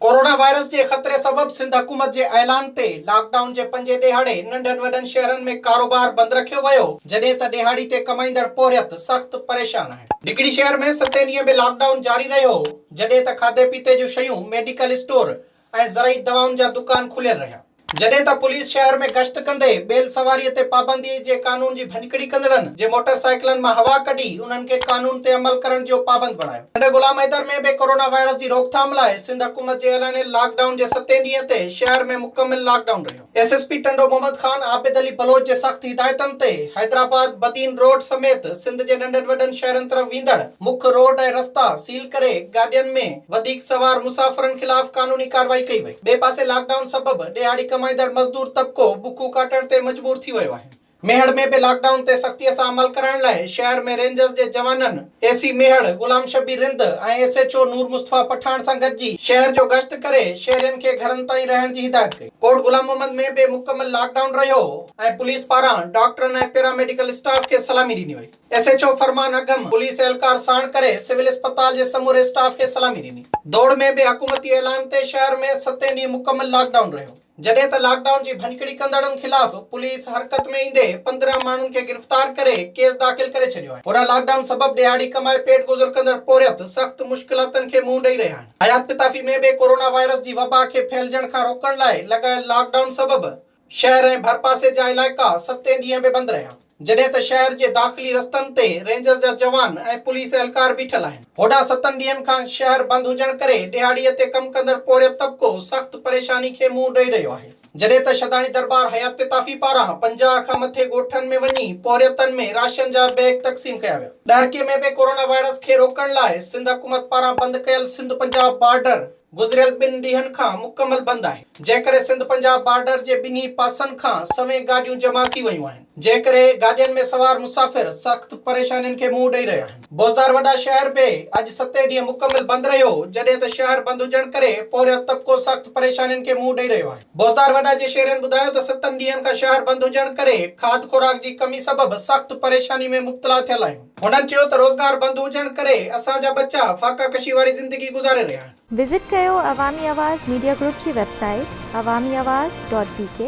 Corona virus جي خطري سبب سنڌ حڪومت جي اعلان تي لاڪ ڊائون جي پنجين ڏيهاڙي ننڍن وڏن شهرن ۾ ڪاروبار بند رکيو ويو جڏهن ته ڏيهاڙي تي ڪمائيندڙ پورهيت سخت پريشان آهن نڪڙي شهر ۾ ستين ڏينهن به لاڪ ڊائون جاري رهيو جڏهن ته کاڌي پيتي جون شيون ميڊيڪل اسٽور ۽ زرعي دوائن جا دڪان کليل رهيا. جڏهن ته پوليس شهر ۾ گشت ڪندي بيل سواري تي پابندي جي قانون جي ڀڃڪڙي ڪندڙن جي موٽر سائيڪلن مان هوا ڪڍي انهن کي قانون تي عمل ڪرڻ جو پابند بڻايو. سنڌ غلام حيدر ۾ به ڪورونا وائرس جي روڪٿام لاء سنڌ حڪومت جي اعلانيل لاڪ ڊائون جي ستين ڏينهن تي شهر ۾ مڪمل لاڪ ڊائون رهيو. S S P Tando Muhammad Khan Abid Ali Baloch جي سخت هدايتن تي حيدرآباد بدين روڊ سميت سنڌ جي ننڍن وڏن شهرن طرف ويندڙ مک روڊ ۽ رستا سيل ڪري گاڏين ۾ وڌيڪ سوار مسافرن خلاف قانوني ڪارروائي ڪئي وئي ٻئي پاسي لاڪ ڊائون سبب ڏهاڙي ڪمائيندڙ مزدور طبقو بکون ڪاٽڻ تي مجبور ٿي ويو آهن. ميهڙ ۾ به لاڪ ڊائون تي سختي سان عمل ڪرائڻ لاء شهر ۾ رينجرز جي جوانن A C Mehar Ghulam Shabbir Rind ۽ S H O Noor Mustafa Pathan سان گڏجي شهر جو گشت ڪري شهرين کي گهرن تائين رهڻ جي هدايت ڪئي. ڪوٽ غلام محمد ۾ به مڪمل لاڪ ڊائون رهيو ۽ پوليس پاران ڊاڪٽرن ۽ پيراميڊيڪل اسٽاف کي سلامي ڏني وئي. S H O Farman Agham police اهلڪار ساڻ ڪري سول اسپتال جي سموري اسٽاف کي سلامي ڏني. دوڙ ۾ به حڪومتي اعلان تي شهر ۾ ستين ڏينهن مڪمل لاڪ ڊائون رهيو. جڏهن ته لاڪ ڊائون جي ڀڃڪڙي ڪندڙن خلاف پوليس حرڪت ۾ ايندي پندرهن ماڻهن کي گرفتار ڪري ڪيس داخل ڪري ڇڏيو آهي پورهيا لاڪ ڊائون سبب ڏهاڙي ڪمائي پيٽ گذر ڪندڙ پورهيت سخت مشڪلاتن کي منهن ڏئي رهيا آهن حيات پتافي ۾ به ڪورونا وائرس جي وبا کي ڦهلجڻ کان روڪڻ لاء لڳايل لاڪ ڊائون سبب شهر ۽ ڀرپاسي جا علائقا ستين ڏينهن به بند رهيا. جڏهن ته شهر جي داخلي رستن تي رينجرز جا جوان ۽ پوليس اهلڪار بيٺل آهن. هوڏانهن ستن ڏينهن کان شهر بند هجڻ ڪري ڏهاڙي تي ڪم ڪندڙ پورهيت طبقو سخت پريشاني کي منهن ڏئي رهيو آهي. جڏهن ته شھداڻي دربار حيات پتافي پاران پنجاهه کان مٿي ڳوٺن ۾ وڃي پورهيتن ۾ راشن جا بيگ تقسيم ڪيا ويا. ڏهرڪي ۾ به ڪورونا وائرس کي روڪڻ لاء سنڌ حڪومت پاران بند ڪيل سنڌ پنجاب بارڊر، گذريل ٻن ڏينهن کان مڪمل بند آهي، جنهن ڪري سنڌ پنجاب بارڊر جي ٻنهي پاسن کان سوين گاڏيون جمع ٿي ويون آهن، جنهن ڪري گاڏين ۾ سوار مسافر سخت پريشانين کي منهن ڏئي رهيا آهن. بوزدار وڏا شهر به اڄ ستين ڏينهن مڪمل بند رهيو، جڏهن ته شهر بند هجڻ ڪري پورهيت طبقو سخت پريشانين کي منهن ڏئي رهيو آهي. بوزدار وڏا جي شهرين ٻڌايو ته ستن ڏينهن کان شهر بند هجڻ ڪري کاڌ خوراڪ جي ڪمي سبب سخت پريشاني ۾ مبتلا ٿيل آهيون. هنن چيو ته روزگار بند هجڻ ڪري اسان جا ٻچا فاقه ڪشي واري زندگي گذاري رهيا آهن. وزٽ ڪيو عوامي آواز ميڊيا گروپ جي website Awami Awaz dot بي ڪي.